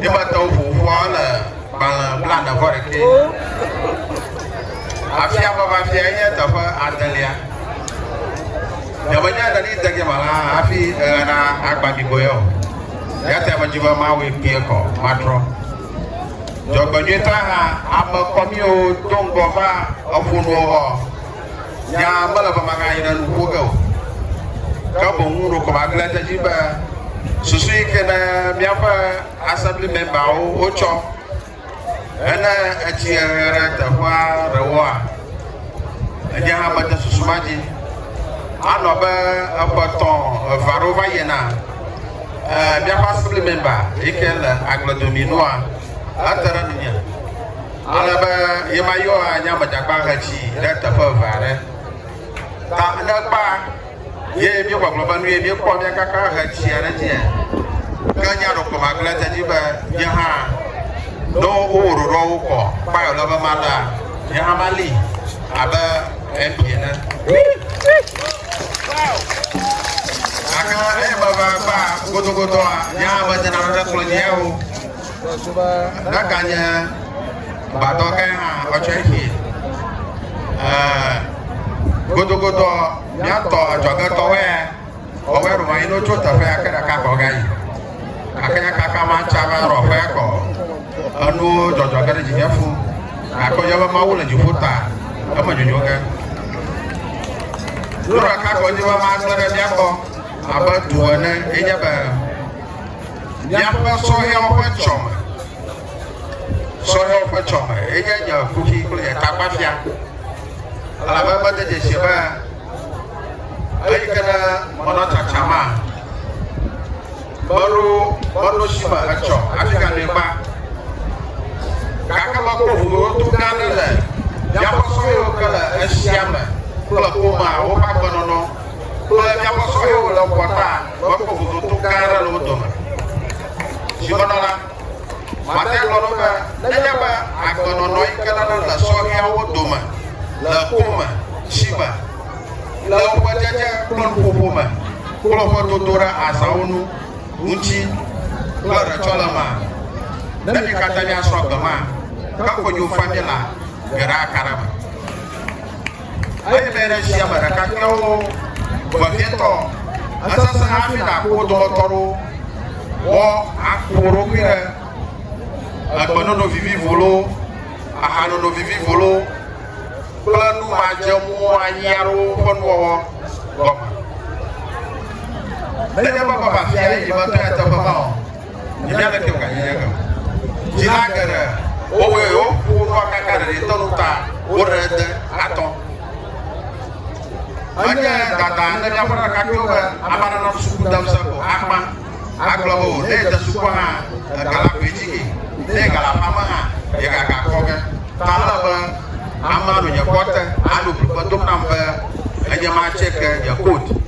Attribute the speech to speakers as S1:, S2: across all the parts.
S1: Egbatɔwo ƒo ƒua wole gbalẽ blaene vɔ ɖekɛ. Afia ƒe afia enye teƒe adelia. Nyemenya ɖe ɖi dege me la hafi eɣe na agba ɖiboe o. Yata medzi be mawɔe kpuie kɔ matrɔ. Dzɔgbenyuitɔe hã, ame kɔmiwo do ŋgɔ va eƒonuwo gbɔ. Nya mele be maga yi ɖe nu ƒo ge o. Ke boŋ ŋu ɖo ko magblẽ ɖe dzi be susu yi ke ne míaƒe assembly memberwo wotsɔ hene etsi hehe ɖe teƒea ɖewoa, enye hã mede susu ma dzi. Anɔ be eƒe tɔ eve aɖewo va yina. Míaƒe assembly member yi ke le agbledomii nua, ete ɖe nunye. Ale be ye ma yɔ anya me dzakpa hetsi ɖe teƒe eve aɖe. Ta ne kpa ye mi gbɔgblɔ be nu ye mi kpɔ mi kaka hetsi aɖe dzi e. Ke nya ɖo kɔ ma gblẽ te dzi be mi hã no wo wo ɖo ɖo wo kɔ kpa yɔ lebe ma la mi hã ma li abe ebi ene. Aka eye me va kpa godogodoa mi hã me dena ɖe kplɔ dzi o. Ɖaka nye gbadɔ ke hã ɔtsɔ efi. Godogodɔ miatɔ adzɔgetɔwɛ ɔwɛ ɖo anyi n'otso teƒe ake ɖeka kɔ ga yi. Ake nya kaka ma tsa va rɔ ƒe kɔ. Enu dzɔdzɔ ge ɖe dzinye fu. Akɔ nye be Mawu le dziƒo ta eme dzodzo ge. Ɖo ɖeka kɔ dzi be ma gbe ɖe miakɔ abe tu ene enye be Míaƒe sɔhɛwo ƒe tsɔme. Sɔhɛwo ƒe tsɔme ye nye nye kuxi kple nye tagbafia. Elabe mede dzesi be eyi ke ɖe mɔnɔtsatsa ma meɖo meɖo si me etsɔ hafi gane gba. Gake mekpɔ ʋuʋuto gã aɖe le míaƒe sɔhɛwo ke le esia me kple ƒomea woƒe agbenɔnɔ kple míaƒe sɔhɛwo le ƒɔta. mekpɔ vovoto gã aɖe le wo dome. Dzimenɔ la, Martin gblɔ ɖo be nenye be agbenɔnɔ yi ke nana le sɔhɛawo dome le ku me, tsi me, le woƒe dzedze kple nuƒoƒo me kple woƒe dodo ɖe azãwo nu ŋuti kple ɖetsɔlemea, ne mi katã miasrɔ̃ agbe ma, ke konyofa mi la, geɖe aka ɖe eme. Eyi me ɖe sia me ɖekakpuiawo vevietɔ esesẽ hafi nàku wo dometɔ aɖewo wɔ aku wò ɖokui ɖe egbenɔnɔ vivivo loo, ahanɔnɔ vivivo loo kple nu madzeamu anyi aɖewo ƒe nuwɔwɔ gɔme. Nenye be vavafia ye nyemetɔe teƒe ma o, Nya ɖe ke wòganye nye eke o. Dzila geɖe wowɔe woƒo woƒe akaka ɖeɖitɔ nu ta woɖe ede atɔ. Enye dada ne míaƒe ɖekakpuiwo be ame aɖe nɔ suku dem se ko agbã agblɔ be o ne yede sukua hã ega la koe dzi ke ne yega le aƒea me hã yegaga kɔ ge. Ta ele be amea nɔ nye kpɔ te anɔ ŋugbe dom nam be enye ma tse ke nye code.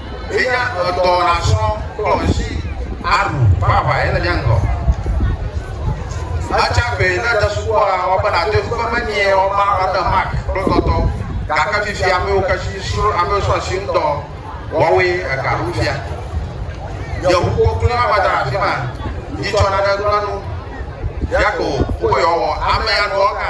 S1: Eya edɔ nasrɔ kplɔ ŋsi aɖu ƒe aʋa ye le mía ŋgɔ. Etsa gbe ne ède sukua wɔ be nàde ŋku be meniɛ wɔ ma ene Mark kple tɔtɔ gake fifia amewo ke si srɔ amewo srɔ asi ŋdɔ wɔwoe ega ɖom fia. Nye ŋu koklo ma va da ɖe afi ma yi tsɔ nane gblẽ nu. Yakob, nu ka yewoawɔ? Amea nɔ ega.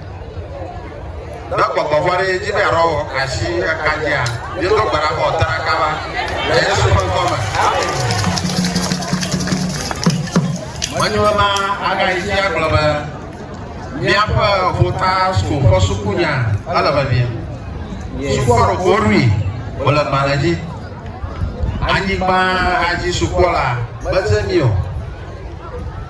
S1: Ne gbɔgbɔ vɔ̃ ɖe edzi be yeaɖɔ wɔ asi eka dzia, míedo gbe ɖa be wòate ɖa kaba le Yesu ƒe ŋkɔ me. Menye ma agayi dzi agblɔ be míaƒe ƒota su ƒe sukunya ele vevie. Sukua ɖo goɖui wòle gbalẽ dzi. Anyigba adzi sukua la meze mi o.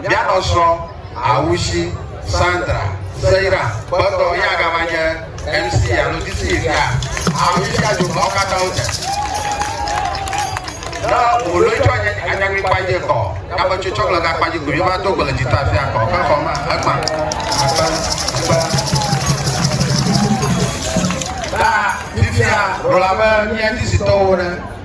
S1: Mía nɔsrɔ̃, Awushi, Sandra, Seira, gbɔtɔ ye agava nye MC alo DJ fia. Awushi adzo mɔwo katã wo dze. Ne wò loi tsɔ nye anyagui kpadzi kɔ, ya me tsotso kple ga kpadzi kuli va do go le jita fia kɔ, ke kɔ ma, ekpa. Akpa, akpa. Na fifia, ɖola be mía dizitɔwo ɖe.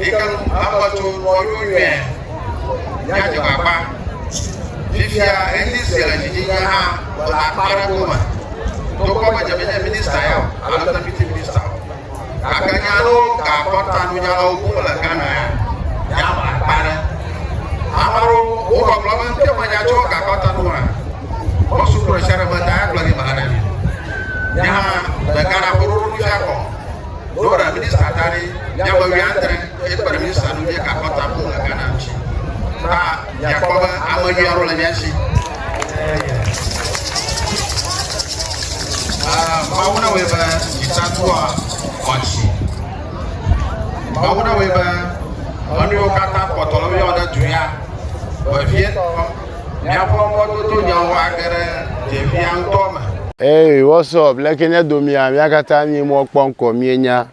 S1: Eke nu akpɔtso kpɔɖo nyuie míadze gbagba. Fifia ɣeyiɣi sue le dzi nye hã mele akpa ɖe gome. Togbɔ be dze menye minista ya o alo deputy minista o. Gake nya aɖewo gakpɔ ta nunyalawo ŋu mele Ghana ya. Míaʋã akpa ɖe. Ame aɖewo wogbɔgblɔ be ŋke menya tso gakpɔ ta nu o hã. Mɔsu kplɔ sia ɖe meda ya kplɔ ɖi mele ɖe mi. Nye hã le Ghana ƒe ɖoɖo nu fia kɔ. Dora minista da ɖi míaƒe wui adre eye kpe ɖe minista ŋu míeka kɔta ƒo le Ghana ŋuti. Ta miakpɔ be ame nyui aɖewo le mía si. Ah, Mawu na wɔe be dzitatɔa xɔ asi. Mawu na wɔe be enu yiwo katã kpɔtɔ le woyɔ ɖe du ya vevietɔ Míakpɔ mɔdodonyawo
S2: age ɖe dzefia ŋutɔ me. Hey, what's up? Leke nye domia? Mía katã mí mɔ kpɔ ŋkɔ mienya.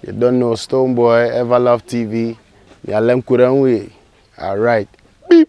S2: You don't know Stonebwoy, Everlove TV. Mia le ŋku ɖe ŋui. Alright. Beep.